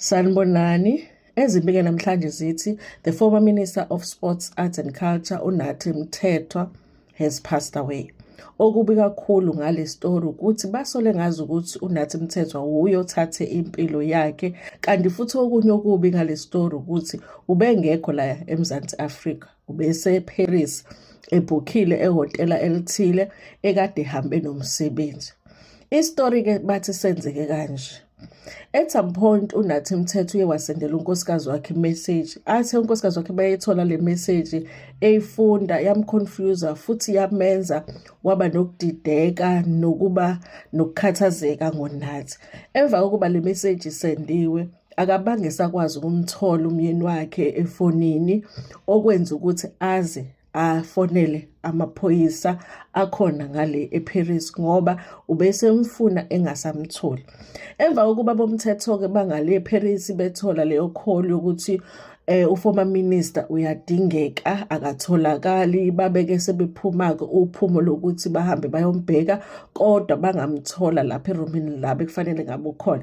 Sanibonani. Ezimbike namhlanje zithi the former minister of sports arts and culture uNathi Mthethwa has passed away. Okubi kakhulu ngale story ukuthi basole ngazi ukuthi uNathi Mthethwa wuye othathe impilo yakhe kanti futhi okunye okubi ngale story ukuthi ubengekho la eMzansi Africa ubese Paris ebhukhile ehhotela elithile ekade hambe nomsebenzi. Istory ke bathi senzeke kanje. at some point unathi mthetho uye wasendela unkosikazi wakhe message athe unkosikazi wakhe bayethola le message eyifunda yamconfuser futhi yamenza waba nokudideka nokuba nokukhathazeka ngonathi emva kokuba le message isendiwe akabange sakwazi ukumthola umyeni wakhe efonini okwenza ukuthi aze afonele amaphoyisa akhona ngale eParis ngoba ubesemfuna engasamtholi emva kokuba bomthetho ke bangale eParis bethola leyo call yokuthi eh uformer minister uyadingeka akatholakali babeke sebephuma ke uphumo lokuthi bahambe bayombheka kodwa bangamthola lapha eroomini la bekufanele ngabe ukhona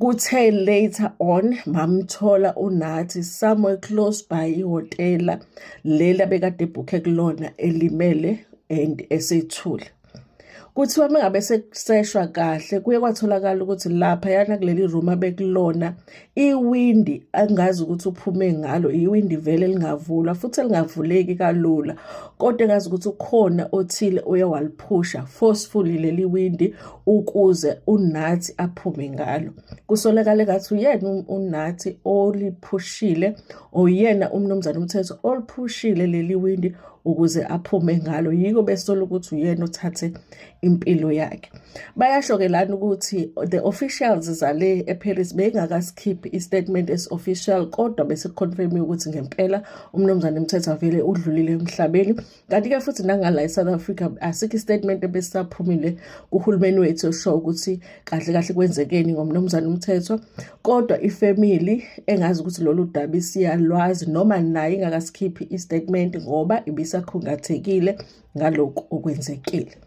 Kuthe later on mamthola uNathi somewhere close by ihhotela leli abekade ebhukhe kulona elimele and esethule. Kuthiwa uma ngabe sekuseshwa kahle kuye kwatholakala ukuthi laphayana kuleli room abekulona iwindi angazi ukuthi uphume ngalo iwindi vele elingavulwa futhi elingavuleki kalula kodwa engazi ukuthi ukhona othile uye waliphusha forcefully leli windi ukuze uNathi aphume ngalo kusolakale kathi uyena uNathi oliphushile oyena umnumzane umthetho oliphushile leli windi ukuze aphume ngalo yiko besola ukuthi uyena othathe impilo yakhe bayasho ke lana ukuthi the officials zale eParis beyingakasikhiphi istatement as official kodwa bese confirm ukuthi ngempela umnumzane umthetho avele udlulile emhlabeni kanti-ke futhi nangala e-south africa asikho istatement ebesisaphumile kuhulumeni wethu esho ukuthi kahle kahle kwenzekeni ngomnumzane umthetho kodwa ifemili engazi ukuthi lolu daba isiyalwazi noma naye ingakasikhiphi istatement ngoba ibisakhungathekile ngalokhu okwenzekile